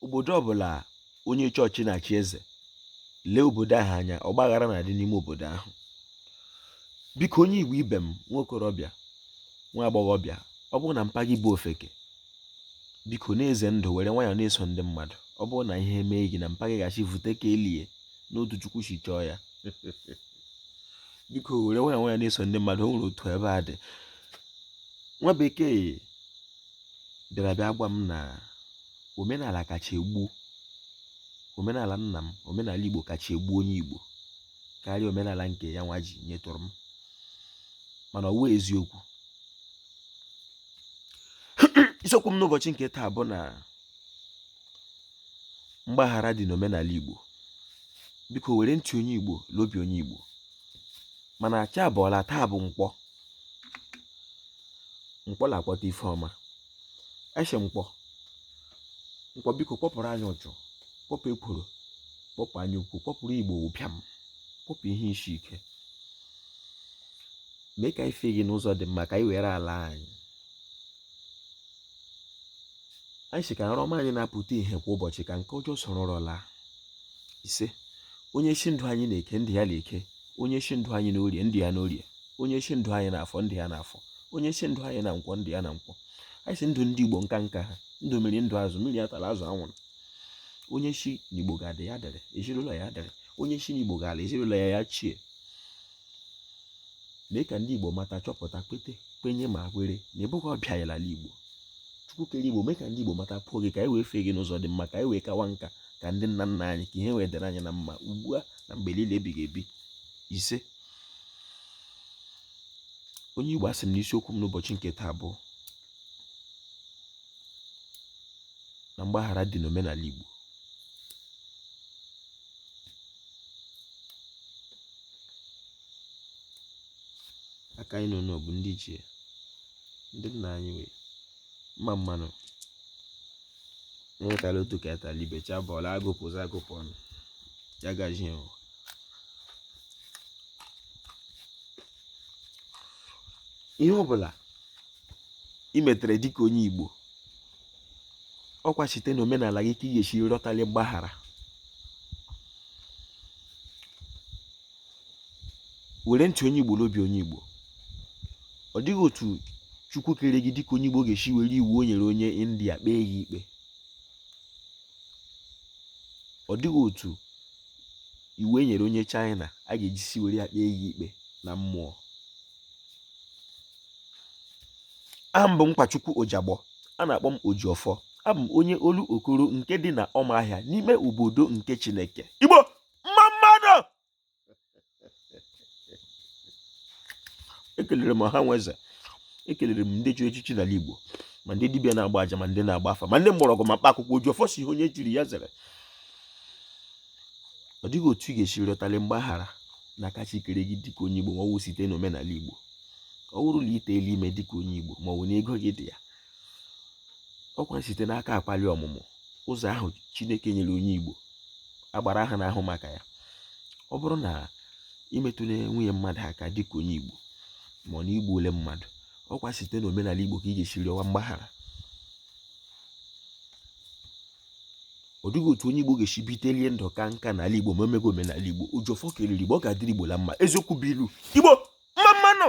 obodo ọbụla onye chọọchị na-achị eze lee obodo ahụ anya ọgbaghara na-adị n'ime obodo ahụ biko onye igbo ibe m nwa okorobịa nwa agbọghọbịa ọ bụrụ na mpa gị bụ ofeke biko na-eze ndụ were nwayọọ na-eso ndị mmadụ ọ bụrụ na ihe mee gị na mpa gị ga-asị vute ka e lie n'otu chukwu si chọọ ya biko were nwayọọ nwayọọ na-eso ndị mmadụ o nwere otu ebe a dị nwa bekee bịara bịa gwa m na omenala kacha egbu omenala nna m omenala Igbo kacha egbu onye Igbo karịa omenala nke ya nwa ji nyetụrụ m mana ọ wụ eziokwu isiokwu m n'ụbọchị nke taa bụ na mgbaghara dị n'omenala Igbo biko were ntị onye Igbo l'obi onye Igbo mana chi abọọla taa bụ nkwọ nkwọ na-akpọta ife ọma asị nkwọ nkwọ biko kpọpụrụ anyị uchu kpọpụ ekworo kpọpụ anya ukwu kpọpụrụ igbo ụbịam kpọpụ ihe isi ike mee ka anyị fee gị n'ụzọ dị mma ka anyị were ala anyị anyị sị ka nrọ ọma anyị na-apụta ihe kwa ụbọchị ka nke ọjọọ soro ụra laa ise onye sị ndụ anyị na eke ndụ ya na eke onye sị ndụ anyị na orie ndụ ya na orie onye sị ndụ anyị na afọ ndụ ya na afọ onye sị ndụ anyị na nkwọ ndụ ya na nkwọ anyị sị ndụ ndị igbo nka nka ha ndụ mmiri ndụ azụ mmiri atala azụ anwụla onye sị na igbo ga-adị ya dịrị ezinụlọ ya dịrị onye sị na igbo ga-ala ezinụlọ ya ya chie mee ka ndị Igbo mata chọpụta kwete kwenye ma kwere na ị bụghị ọbịa ya n'ala Igbo Chukwu kere Igbo mee ka ndị Igbo matakwuo gị ka anyị wee fee gị n'ụzọ dị mma ka anyị wee kawa nka ka ndị nna nna anyị ka ihe wee dịrị anyị na mma ugbu a na mgbe niile ebighị ebi ise onye Igbo asị m na isiokwu m n'ụbọchị nke taa bụ na mgbaghara dị n'omenala Igbo aka anyị nọ n'obu ndị ichie ndị nna anyị wee mma mmanụ enwetala otu ka etala ibe cha bọọlụ agụpụzi agụpụ ọnụ ya gazie ihe ọbụla i metere dịka onye igbo ọ kwa site na omenala gị ka ị ga-esi rịọtali mgbaghara were ntị onye igbo n'obi onye igbo ọ dịghị otu chukwu kere gị dịka onye igbo ga-esi were iwu o nyere onye india kpee gị ikpe ọ dịghị otu iwu e nyere onye china a ga-eji si were ya kpee gị ikpe na mmụọ aha m bụ Nkwachukwu Ojagbọ a na-akpọ m Ojiọfọ abụ m onye Olokoro nke dị na Ọmahịa n'ime obodo nke Chineke Igbo mma mmanụ ekelere m ọha nwe eze ekelere m ndị chiri echichi n'ala Igbo ma ndị dibịa na-agba aja ma ndị na-agba afa ma ndị mgbọrọgwụ ma mkpa akwụkwọ Ojiọfọ sị ihe onye jiri ya zere ọ dịghị otu ị ga-esi rịọtali mgbaghara n'aka Chi kere gị dịka onye Igbo ma ọ bụghị site n'omenala Igbo ọ bụrụ na i teela ime dịka onye Igbo ma ọ bụ na ego gị dị ya ọkwa site n'aka Akwalị Ọmụmụ ụzọ ahụ Chineke nyere onye Igbo agbara ahụ na-ahụ maka ya ọ bụrụ na i metụla nwunye mmadụ aka dịka onye Igbo ma ọ na i gbuole mmadụ ọkwa site n'omenala Igbo ka ị ga-esi rịọwa mgbaghara ọ dịghị otu onye Igbo ga-esi bitelie ndụ kaa nka n'ala Igbo ma emeghị omenala Igbo Ojiọfọ kelere Igbo ọ ga-adịrị Igbo la mma eziokwu bụ ilu Igbo mma mmanụ